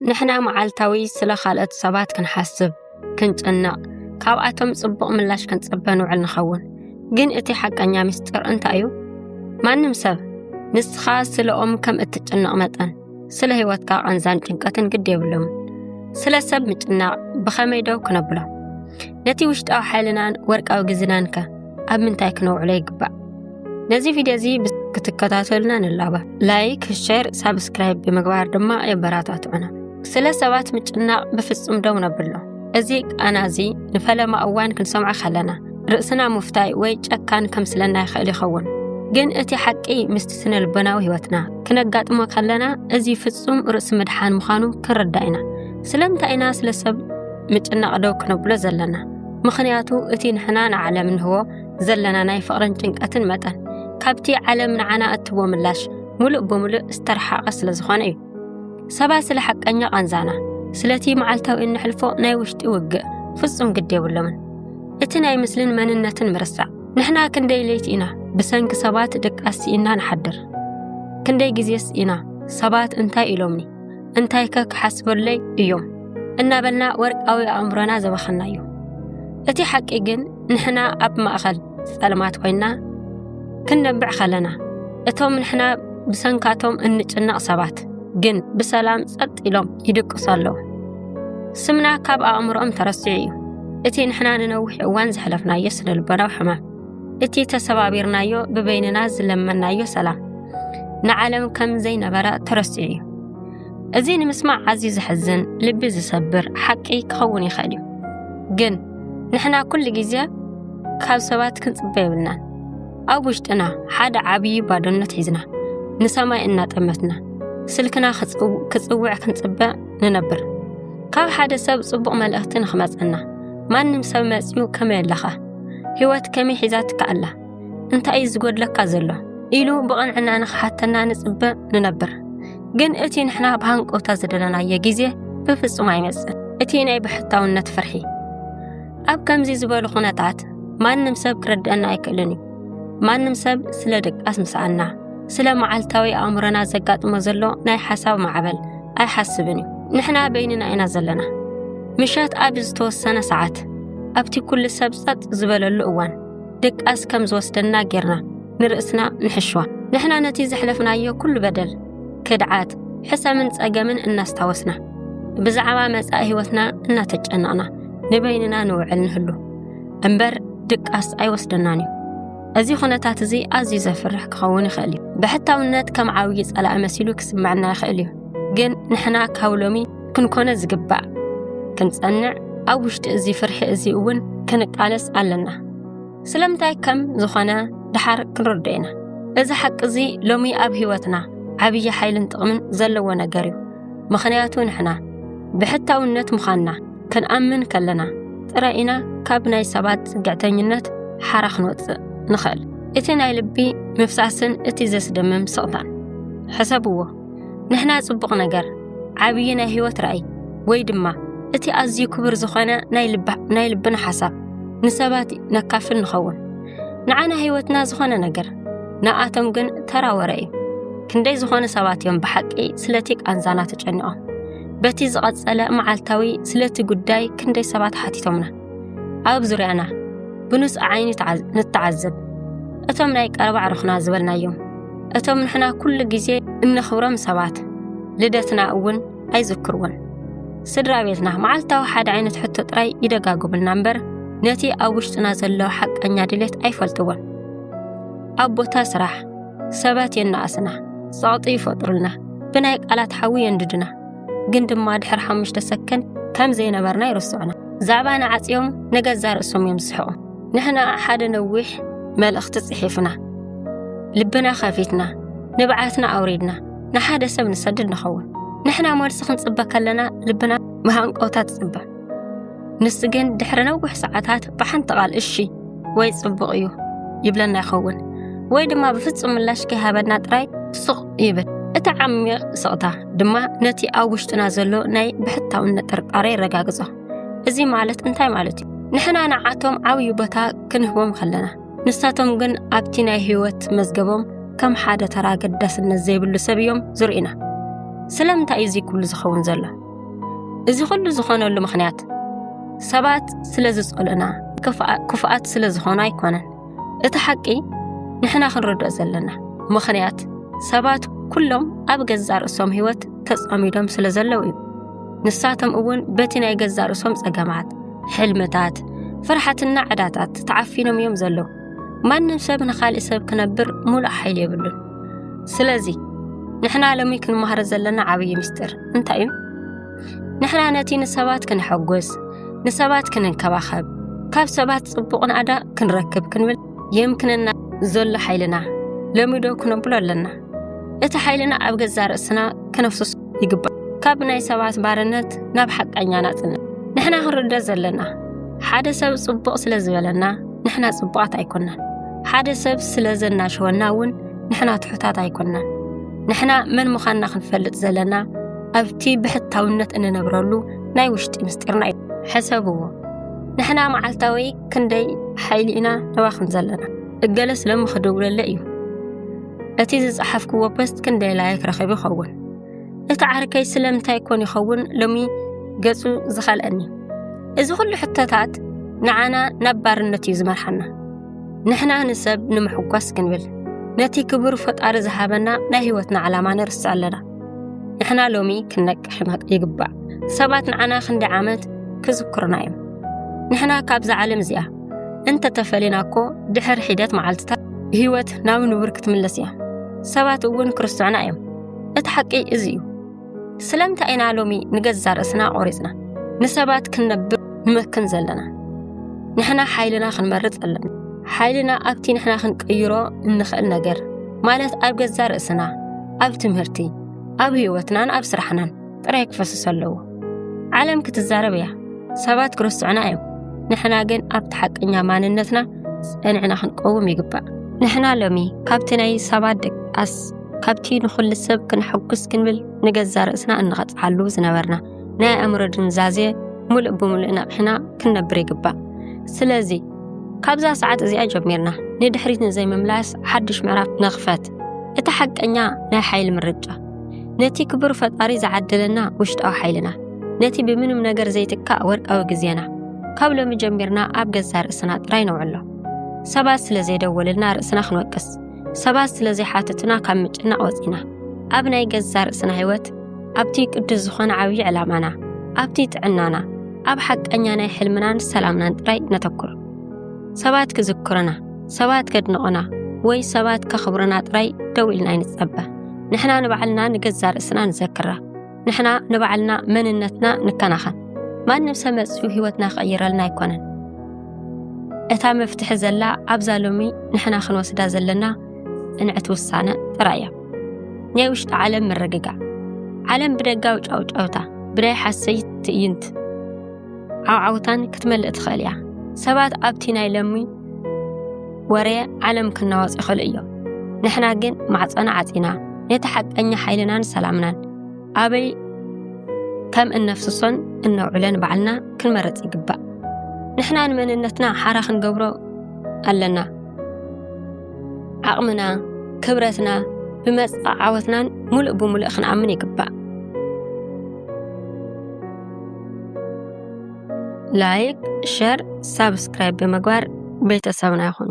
ንሕና መዓልታዊ ስለ ካልኦት ሰባት ክንሓስብ ክንጭነቕ ካብኣቶም ጽቡቕ ምላሽ ክንጽበ ንውዕል ንኸውን ግን እቲ ሓቀኛ ምስጢር እንታይ እዩ ማንም ሰብ ንስኻ ስለኦም ከም እትጭነቕ መጠን ስለ ህይወትካ ቐንዛን ጭንቀትን ግድ የብሎም ስለ ሰብ ምጭናቕ ብኸመይ ደው ክነብሎ ነቲ ውሽጣዊ ሓይልናን ወርቃዊ ግዝናን ከ ኣብ ምንታይ ክነውዕሎ ይግባእ? ነዚ ቪድዮ እዚ ክትከታተሉና ንላባ ላይክ ሸር ሳብስክራይብ ብምግባር ድማ የበራታትዑና ስለ ሰባት ምጭናቕ ብፍጹም ደው ነብሎ እዚ ቃና እዚ ንፈለማ እዋን ክንሰምዖ ከለና ርእስና ምፍታይ ወይ ጨካን ከምስለና ይኽእል ይኸውን ግን እቲ ሓቂ ምስቲ ስነ ልቦናዊ ህይወትና ክነጋጥሞ ከለና እዚ ፍጹም ርእሲ ምድሓን ምዃኑ ክንርዳእ ኢና ስለምንታይ ኢና ስለ ሰብ ምጭናቕ ደው ክነብሎ ዘለና ምኽንያቱ እቲ ንሕና ንዓለም እንህቦ ዘለና ናይ ፍቕርን ጭንቀትን መጠን ካብቲ ዓለም ንዓና እትቦ ምላሽ ሙሉእ ብምሉእ ዝተረሓቐ ስለ ዝኾነ እዩ። ሰባት ስለ ሓቀኛ ቃንዛና፣ ስለቲ መዓልታዊ እንሕልፎ ናይ ውሽጢ ውግእ ፍጹም ግድ የብሎምን። እቲ ናይ ምስልን መንነትን ምርሳዕ ንሕና ክንደይ ለይቲ ኢና ብሰንኪ ሰባት ድቃስ ስኢና ንሓድር? ክንደይ ግዜስ ኢና ሰባት እንታይ ኢሎምኒ እንታይከ ክሓስበለይ እዮም እናበልና ወርቃዊ ኣእምሮና ዘባኸና እዩ እቲ ሓቂ ግን ንሕና ኣብ ማእኸል ጸልማት ኮይና ክንነብዕ ከለና እቶም ንሕና ብሰንካቶም እንጭነቕ ሰባት ግን ብሰላም ጸጥ ኢሎም ይድቅሱ ኣለዉ ስምና ካብ ኣእምሮኦም ተረሲዑ እዩ እቲ ንሕና ንነዊሕ እዋን ዘሕለፍናዮ ስነልቦናዊ ሕማም እቲ ተሰባቢርናዮ ብበይንና ዝለመናዮ ሰላም ንዓለም ከም ዘይነበረ ተረሲዑ እዩ እዚ ንምስማዕ ኣዝዩ ዘሕዝን ልቢ ዝሰብር ሓቂ ክኸውን ይኽእል እዩ ግን ንሕና ኩሉ ግዜ ካብ ሰባት ክንጽበ የብልናን ኣብ ውሽጥና ሓደ ዓብዪ ባዶነት ሒዝና ንሰማይ እናጠመትና ስልክና ክጽውዕ ክንጽበ ንነብር ካብ ሓደ ሰብ ጽቡቕ መልእኽቲ ንኽመጸና ማንም ሰብ መጺኡ ከመይ ኣለኻ ህይወት ከመይ ሒዛትካ ኣላ እንታይ እዩ ዝጎድለካ ዘሎ ኢሉ ብቕንዕና ንኽሓተና ንጽበ ንነብር ግን እቲ ንሕና ብሃንቀውታ ዝደለናዮ ግዜ ብፍጹም ኣይመጽእን እቲ ናይ ብሕታውነት ፍርሒ ኣብ ከምዚ ዝበሉ ኹነታት ማንም ሰብ ክረድአና ኣይክእልን እዩ ማንም ሰብ ስለ ድቃስ ምስኣና ስለ መዓልታዊ ኣእምሮና ዘጋጥሞ ዘሎ ናይ ሓሳብ ማዕበል ኣይሓስብን እዩ ንሕና በይንና ኢና ዘለና ምሸት ኣብ ዝተወሰነ ሰዓት ኣብቲ ኩሉ ሰብ ጸጥ ዝበለሉ እዋን ድቃስ ከም ዝወስደና ጌርና ንርእስና ንሕሽዋ ንሕና ነቲ ዘሕለፍናዮ ኩሉ በደል ክድዓት ሕሰምን ጸገምን እናስታወስና ብዛዕባ መጻኢ ህይወትና እናተጨነቕና ንበይንና ንውዕል ንህሉ እምበር ድቃስ ኣይወስደናን እዩ እዚ ኩነታት እዚ ኣዝዩ ዘፍርሕ ክኸውን ይኽእል እዩ ብሕታውነት ከም ዓብዪ ጸላኢ መሲሉ ክስምዐና ይኽእል እዩ ግን ንሕና ካብ ሎሚ ክንኮነ ዝግባእ ክንጸንዕ ኣብ ውሽጢ እዚ ፍርሒ እዚ እውን ክንቃለስ ኣለና ስለምንታይ ከም ዝኾነ ድሓር ክንርዶ ኢና እዚ ሓቂ እዚ ሎሚ ኣብ ህይወትና ዓብዪ ሓይልን ጥቕምን ዘለዎ ነገር እዩ ምኽንያቱ ንሕና ብሕታውነት ምዃንና ክንኣምን ከለና ጥራይ ኢና ካብ ናይ ሰባት ጽግዕተኝነት ሓራ ክንወጽእ ንኽእል። እቲ ናይ ልቢ ምፍሳስን እቲ ዘስደምም ስቕታን ሕሰብዎ። ንሕና ጽቡቕ ነገር፣ ዓብዪ ናይ ህይወት ራእይ፣ ወይ ድማ እቲ ኣዝዩ ክቡር ዝኾነ ናይ ልብና ሓሳብ ንሰባት ነካፍል ንኸውን። ንዓና ህይወትና ዝኾነ ነገር፣ ንኣቶም ግን ተራ ወረ እዩ። ክንደይ ዝኾኑ ሰባት እዮም ብሓቂ ስለቲ ቃንዛና ተጨኒቖም። በቲ ዝቐጸለ መዓልታዊ ስለቲ ጉዳይ ክንደይ ሰባት ሓቲቶምና። ኣብ ዙርያና ብኑጽ ዓይኒ ንተዓዘብ። እቶም ናይ ቀረባ ዕርኽና ዝበልናዮም፣ እቶም ንሕና ኩሉ ግዜ እነኽብሮም ሰባት ልደትና እውን ኣይዝክርዎን። ስድራ ቤትና መዓልታዊ ሓደ ዓይነት ሕቶ ጥራይ ይደጋግቡልና እምበር ነቲ ኣብ ውሽጥና ዘሎ ሓቀኛ ድሌት ኣይፈልጥዎን። ኣብ ቦታ ስራሕ ሰባት የናኣስና ጸቕጢ ይፈጥሩልና ብናይ ቃላት ሓዊ የንድድና ግን ድማ ድሕሪ ሓሙሽተ ሰከን ከም ዘይነበርና ይርስዑና ዛዕባና ዓጽዮም ንገዛ ርእሶም እዮም ዝስሕቑ ንሕና ሓደ ነዊሕ መልእኽቲ ጽሒፍና ልብና ከፊትና ንብዓትና ኣውሪድና ንሓደ ሰብ ንሰድድ ንኸውን ንሕና መልሲ ክንጽበ ከለና ልብና መሃንቀውታ ትጽበ ንሱ ግን ድሕሪ ነዊሕ ሰዓታት ብሓንቲ ቓል እሺ ወይ ጽቡቕ እዩ ይብለና ይኸውን ወይ ድማ ብፍጹም ምላሽ ከይሃበና ጥራይ ሱቕ ይብል እቲ ዓሚቕ ስቕታ ድማ ነቲ ኣብ ውሽጥና ዘሎ ናይ ብሕታውነት ጥርጣረ የረጋግጾ እዚ ማለት እንታይ ማለት እዩ ንሕና ንዓቶም ዓብዪ ቦታ ክንህቦም ከለና ንሳቶም ግን ኣብቲ ናይ ህይወት መዝገቦም ከም ሓደ ተራ ገዳስነት ዘይብሉ ሰብ እዮም ዝርእና ስለምንታይ እዩ እዚ ኩሉ ዝኸውን ዘሎ እዚ ኩሉ ዝኾነሉ ምኽንያት ሰባት ስለ ዝጸልኡና ክፉኣት ስለ ዝኾኑ ኣይኮነን። እቲ ሓቂ ንሕና ክንርድኦ ዘለና ምኽንያት ሰባት ኩሎም ኣብ ገዛ ርእሶም ህይወት ተጸሚዶም ስለ ዘለዉ እዩ። ንሳቶም እውን በቲ ናይ ገዛ ርእሶም ጸገማት፣ ሕልምታት፣ ፍርሓትና ዕዳታት ተዓፊኖም እዮም ዘለዉ። ማንም ሰብ ንኻልእ ሰብ ክነብር ሙሉእ ሓይሊ የብሉን። ስለዚ ንሕና ሎሚ ክንመሃሮ ዘለና ዓብዪ ምስጢር እንታይ እዩ? ንሕና ነቲ ንሰባት ክንሐጉስ፣ ንሰባት ክንንከባኸብ፣ ካብ ሰባት ጽቡቕ ናእዳ ክንረክብ ክንብል የምክነና ዘሎ ሓይልና ሎሚ ዶ ክነብሎ ኣለና? እቲ ሓይልና ኣብ ገዛ ርእስና ከነፍስሶ ይግባእ ካብ ናይ ሰባት ባርነት ናብ ሓቀኛ ናጽነት ንሕና ክንርደእ ዘለና ሓደ ሰብ ጽቡቕ ስለ ዝበለና ንሕና ጽቡቓት ኣይኮናን ሓደ ሰብ ስለ ዘናሸወና እውን ንሕና ትሑታት ኣይኮናን ንሕና መን ምዃንና ክንፈልጥ ዘለና ኣብቲ ብሕታውነት እንነብረሉ ናይ ውሽጢ ምስጢርና እዩ ሕሰብዎ ንሕና መዓልታዊ ክንደይ ሓይሊ ኢና ነባኽን ዘለና እገለ ስለም ክድውለለ እዩ እቲ ዝጸሓፍክዎ ፖስት ክንደይ ላይክ ረኺቡ ይኸውን እቲ ዓርከይ ስለምንታይ ኮን ይኸውን ሎሚ ገጹ ዝኸልአኒ እዚ ኩሉ ሕቶታት ንዓና ናብ ባርነት እዩ ዝመርሓና ንሕና ንሰብ ንምሕጓስ ክንብል ነቲ ክቡር ፈጣሪ ዝሃበና ናይ ህይወትና ዓላማ ንርስዕ ኣለና ንሕና ሎሚ ክንነቅሕ ይግባእ ሰባት ንዓና ክንደይ ዓመት ክዝክሩና እዮም ንሕና ካብዛ ዓለም እዚኣ እንተተፈሊና እኮ ድሕሪ ሒደት መዓልትታት ህይወት ናብ ንቡር ክትምለስ እያ ሰባት እውን ክርስትዑና እዮም እቲ ሓቂ እዚ እዩ ስለምንታይ ኢና ሎሚ ንገዛ ርእስና ቆሪፅና ንሰባት ክንነብር ንመክን ዘለና ንሕና ሓይልና ክንመርፅ ኣለና ሓይልና ኣብቲ ንሕና ክንቅይሮ እንኽእል ነገር ማለት ኣብ ገዛ ርእስና ኣብ ትምህርቲ ኣብ ህይወትናን ኣብ ስራሕናን ጥራይ ክፈስስ ኣለዎ። ዓለም ክትዛረብ እያ፣ ሰባት ክርስትዑና እዮም። ንሕና ግን ኣብቲ ሓቀኛ ማንነትና ጸንዕና ክንቀውም ይግባእ። ንሕና ሎሚ ካብቲ ናይ ሰባት ደቃስ ካብቲ ንኹሉ ሰብ ክንሐጉስ ክንብል ንገዛ ርእስና እንቐጽዓሉ ዝነበርና ናይ ኣእምሮ ድንዛዜ ሙሉእ ብሙሉእ ነቕሕና ክንነብር ይግባእ። ስለዚ ካብዛ ሰዓት እዚኣ ጀሚርና ንድሕሪት ንዘይምምላስ ሓድሽ ምዕራፍ ንኽፈት። እቲ ሓቀኛ ናይ ሓይሊ ምርጫ ነቲ ክቡር ፈጣሪ ዝዓደለና ውሽጣዊ ሓይልና፣ ነቲ ብምንም ነገር ዘይትካእ ወርቃዊ ግዜና ካብ ሎሚ ጀሚርና ኣብ ገዛ ርእስና ጥራይ ነውዕሎ። ሰባት ስለ ዘይደወልልና ርእስና ክንወቅስ፣ ሰባት ስለ ዘይሓተቱና ካብ ምጭናቕ ወፂና፣ ኣብ ናይ ገዛ ርእስና ህይወት፣ ኣብቲ ቅዱስ ዝኾነ ዓብዪ ዕላማና፣ ኣብቲ ጥዕናና፣ ኣብ ሓቀኛ ናይ ሕልምናን ሰላምናን ጥራይ ነተኩር። ሰባት ክዝክሩና ሰባት ከድንቑና ወይ ሰባት ከኽብሩና ጥራይ ደው ኢልና ይንጸበ ንሕና ንባዕልና ንገዛ ርእስና ንዘክራ ንሕና ንባዕልና መንነትና ንከናኸን ማንም ሰብ መፅኡ ህይወትና ክቕይረልና ኣይኮነን እታ መፍትሒ ዘላ ኣብዛ ሎሚ ንሕና ክንወስዳ ዘለና ጽንዕቲ ውሳነ ጥራይ እያ ናይ ውሽጢ ዓለም ምርግጋእ ዓለም ብደጋዊ ጫውጫውታ ብናይ ሓሰይት ትእይንት ዓውዓውታን ክትመልእ ትኽእል እያ። ሰባት ኣብቲ ናይ ለሚ ወረ ዓለም ክናወጽ ይኽእሉ እዮም። ንሕና ግን ማዕጸና ዓጺና ነቲ ሓቀኛ ሓይልናን ሰላምናን ኣበይ ከም እነፍስሶን እነውዕለን ባዕልና ክንመረጽ ይግባእ። ንሕና ንመንነትና ሓራ ክንገብሮ ኣለና። ዓቕምና፣ ክብረትና፣ ብመጽእ ዓወትናን ሙሉእ ብሙሉእ ክንኣምን ይግባእ። ላይክ፣ ሸር፣ ሳብስክራይብ ብምግባር ቤተሰብና ይኹኑ።